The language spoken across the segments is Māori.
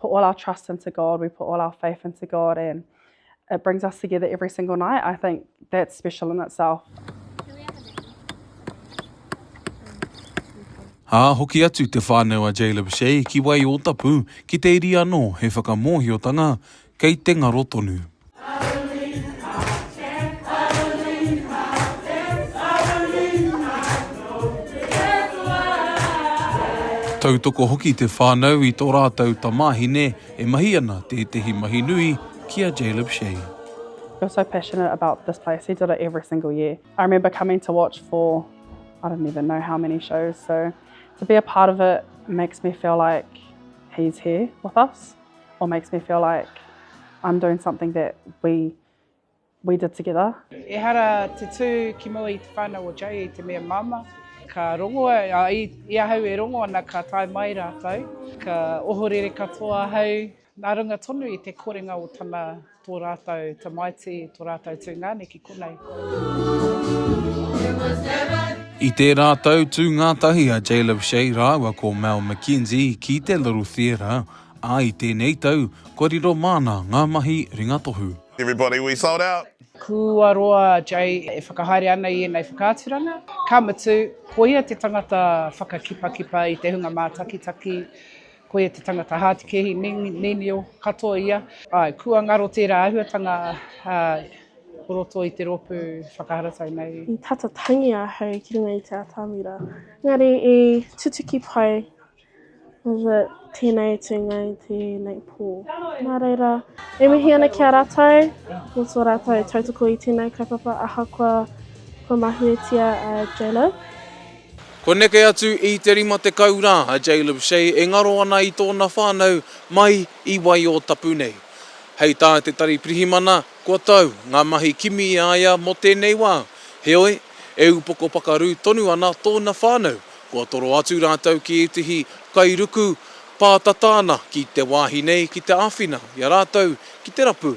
put all our trust into God, we put all our faith into God, and it brings us together every single night. I think that's special in itself. Ā, hoki atu te whānau a Jayla Boucher ki Waiōtapu ki te iri anō he whakamōhiotanga kei te ngaro tonu. Tautoko hoki te whānau i tō rātou tamāhine e mahi ana tētehi mahi nui ki a Jaleb Shea. He was so passionate about this place, he did it every single year. I remember coming to watch for I don't even know how many shows, so to be a part of it makes me feel like he's here with us. or makes me feel like I'm doing something that we we did together. Ehara te tū ki mua i te whānau o Jay i te mea māmā, ka rongo, a, i, i ahau e rongo ana ka tae mai rātou, ka ohorere katoa ahau nā runga tonu i te korenga o tana Tō rātou tamaiti, tō rātou tūngane ki konei. I tērā tau tū ngātahi a Jay Leveshe rāua ko Mel McKenzie ki te Little Theatre, ā, i tēnei tau, kua riro māna ngā mahi ringatohu. Everybody we sold out! Kua roa a Jay e whakahaere ana i ēnei whakaaturanga, ka mutu, ko ia te tangata whakakipakipa i te hunga mātakitaki, Koia te tangata hātikehi, nenio katoa ia. Āe, kua ngaro tērā āhuatanga o roto i te rōpū whakaharatau nei. I tata tangi ahau ki runga i te atamira, engari i tutuki pai tēnei tūnga i tēnei pō. Nā reira, e mihi ana ki a rātou mō tō rātou tautoko i tēnei kaupapa ahakoa kua mahuetia a J-Love. Kua neke atu i te 50 rā a Jaleb Shay e ngaro ana i tōna whānau mai i Waiōtapu nei. Hei tā te Tari Pirihimana, kua tau ngā mahi kimi i a ia mō tēnei wā. Heoi, e upoko pakaru tonu ana tōna whānau, kua toro atu rātou ki ētehi kairuku pātata ana ki te wāhi nei ki te āwhina i a rātou ki te rapu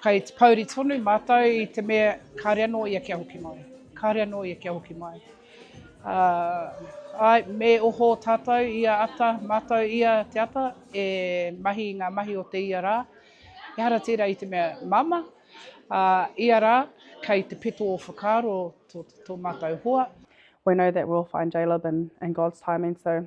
Kei te pouri tonu mātou i te mea kāre anō ia kia hoki mai, kāre anō ia kia hoki mai. Ā, āe, me oho tātou ia ata, mātou ia te ata, e mahi i ngā mahi o te ia rā. Ehara tērā i te mea māmā, ā, ia rā, kei te peto o whakaaro tō, tō mātou hoa. We know that we'll find Jaleb in, in God's timing, so